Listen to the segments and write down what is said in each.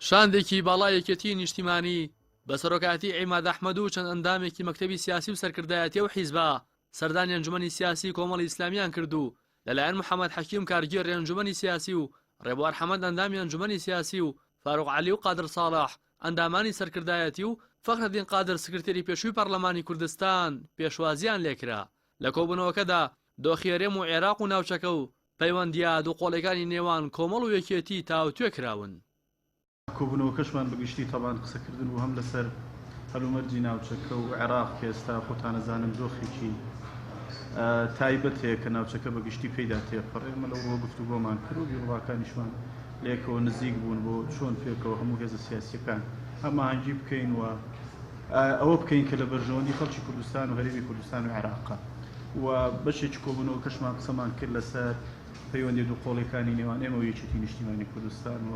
شاندێکی باڵای یەکێتیی نیشتیمانی بە سەرۆکایەتیی عیماد ئەحمەد و چەند ئەندامێکی مەکتەبی سیاسی و سەرکردایەتی ئەو حیزبە سەردانی ئەنجومەنی سیاسیی کۆمەڵی ئیسلامییان کرد و لەلایەن محەمەد حەکیم کارگێڕی ئەنجومەنی سیاسی و ڕێبوار حەمەد ئەندامی ئەنجومەنی سیاسی و فاروق عەلی و قادر ساڵح ئەندامانی سەرکردایەتی و فەخرەدین قادر سکرتێری پێشووی پەڕلەمانی کوردستان پێشوازییان لێکرا. لە کۆبوونەوەکەدا دۆخی هەرێم و عێراق و ناوچەکە و پەیوەندییە دووقۆڵیەکانی نێوان کۆمەڵ و یەکێتی تاوتوێ کراون. کۆبوونەوەکەشمان بە گشتی تەبان قسەکردن بوو هەم لەسەر هەلومەرجی ناوچەکە و عێراق کە ئێستا خۆتانەزانن دۆخێکی تایبەت هەیە کە ناوچەکە بە گشتی پێیدا تێپەڕێ. ئێمە لەوڕووە گفتوگۆمان کرد و بیروڕاکانیشمان لە یەکەوە نزیک بوون بۆ چۆن پێکەوە هەموو هێزە سیاسییەکان هەماهەنگی بکەین و ئەوە بکەین کە لە بەرژەوەندی خەڵکی کوردستان و هەرێمی کوردستان و عێراقە و بەشێکی کۆبوونەوەکەشمان قسەمان کرد لەسەر پەیوەندی دووقۆڵیەکانی نێوان ئێمە و یەکێتی نیشتیمانی کوردستان و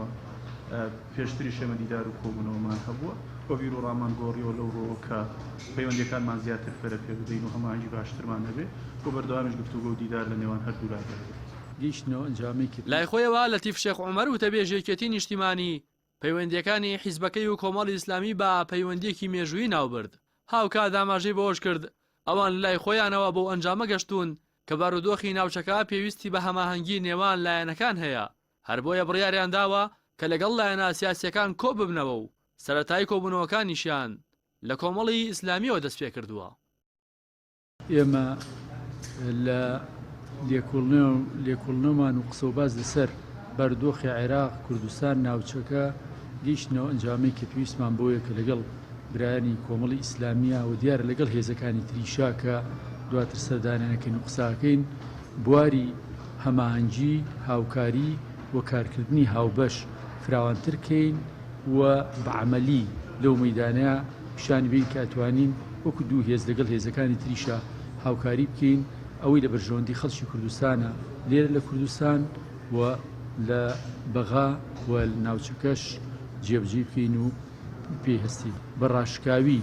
پێشتری شێمە دیدار و کۆبوونەوەمان هەبووە و بیر و ڕامان گۆڕیەوە لەو ڕۆوە کە پەیوەندەکانمان زیاتر پەرە پێ بدەین و هەماهەنگی باشترمان هەبێ و بەردەوامیش گفتوگۆ و دیدار لە نێوان هەردوو لادا بێت. لای خۆیەوە لەتیف شێخ عومەر وتەبێژی یەکێتی نیشتیمانی، پەیوەندییەکانی حیزبەکەی و کۆمەڵی ئیسلامی بە پەیوەندییەکی مێژوویی ناوبرد، هاوکات ئاماژەی بەوەشکرد، ئەوان لەلای خۆیانەوە بەو ئەنجامە گەشتوون کە بارودۆخی ناوچەکە پێویستی بە هەماهەنگی نێوان لایەنەکان هەیە، هەر بۆیە بڕیاریان داوە کە لەگەڵ لایەنە سیاسییەکان کۆببنەوە و سەرەتای کۆبوونەوەکانیشیان لە کۆمەڵی ئیسلامییەوە دەستپێکردووە. ئێمە لە لێکۆڵنەوەمان و قسە و باس لەسەر بارودۆخی عێراق، کوردستان، ناوچەکە گەیشتنەوە ئەنجامەی کە پێویستمان بۆیە کە لەگەڵ برایانی کۆمەڵی ئیسلامیە و دیارە لەگەڵ هێزەکانی تریشا کە دواتر سەردانیانەکەین و قساکەین بواری هەماهەنگی هاوکاری و کارکردنی هاوبەش فراوانتر کەین و بەعملی لەو مەدانە پیشانی بەین کە ئەتوانین وەکو دوو هێز لەگەڵ هێزەکانی تریشا هاوکاری بکەین، ئەوەی لە بەرژەوەندی خەڵکی کوردستانە لێرە لە کوردستان و لە بەغا و ناوچەکەش جێبەجێی بکەین و پێی هەستین. بە ڕاشکاوی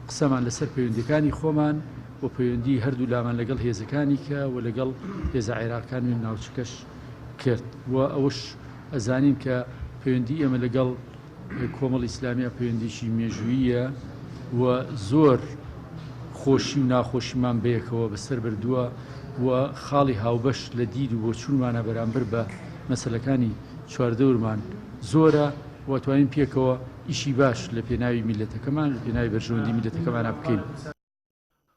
قسەمان لەسەر پەیوەندیەکانی خۆمان و پەیوەندی هەردوولامان لەگەڵ هێزەکانی کە و لەگەڵ هێزە عێراقکان و ناوچەکەش کرد و ئەوەش ئەزانین کە پەیوەندی ئێمە لەگەڵ کۆمەڵی ئیسلامیە پەیوەندیەکی مێژووییە و زۆر خۆشی و ناخۆشیمان بەیەکەوە بەسەر بردووە و خاڵی هاوبەش لە دید و بۆچوونمانە بەرامبەر بە مەسەلەکانی چواردەورمان زۆرە و توانین پێکەوە ئیشی باش لە پێناوی میللەتەکەمان لە پێناوی بەرژەوەندی میللەتەکەمانا بکەین.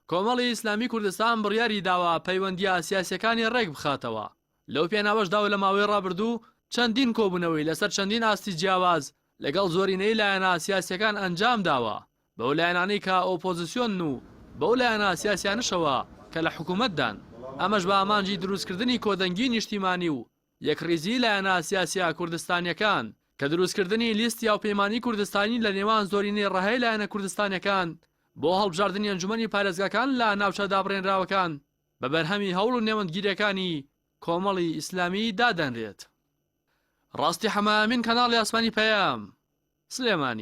کۆمەڵی ئیسلامی کوردستان بڕیاری داوە پەیوەندییە سیاسییەکانی ڕێک بخاتەوە، لەو پێناوەشدا و لە ماوەی ڕابردوو چەندین کۆبوونەوەی لەسەر چەندین ئاستی جیاواز لەگەڵ زۆرینەی لایەنە سیاسییەکان ئەنجام داوە، بەو لایەنانەی کە ئۆپۆزسیۆنن و بەو لایەنە سیاسییانەشەوە کە لە حکوومەتدان، ئەمەش بە ئامانجی دروستکردنی کۆدەنگیی نیشتیمانی و یەکڕیزیی لایەنە سیاسییە کوردستانییەکان، کە دروستکردنی لیستی هاوپەیمانیی کوردستانی لە نێوان زۆرینەی ڕەهای لایەنە کوردستانییەکان بۆ هەڵبژاردنی ئەنجومەنی پارێزگاکان لە ناوچە دابڕێنراوەکان بە بەرهەمی هەوڵ و نێوەندگیرییەکانی کۆمەڵی ئیسلامی دادەنرێت. ڕاستی حەمە ئەمین کەناڵی ئاسمانی پەیام، سلێمانی.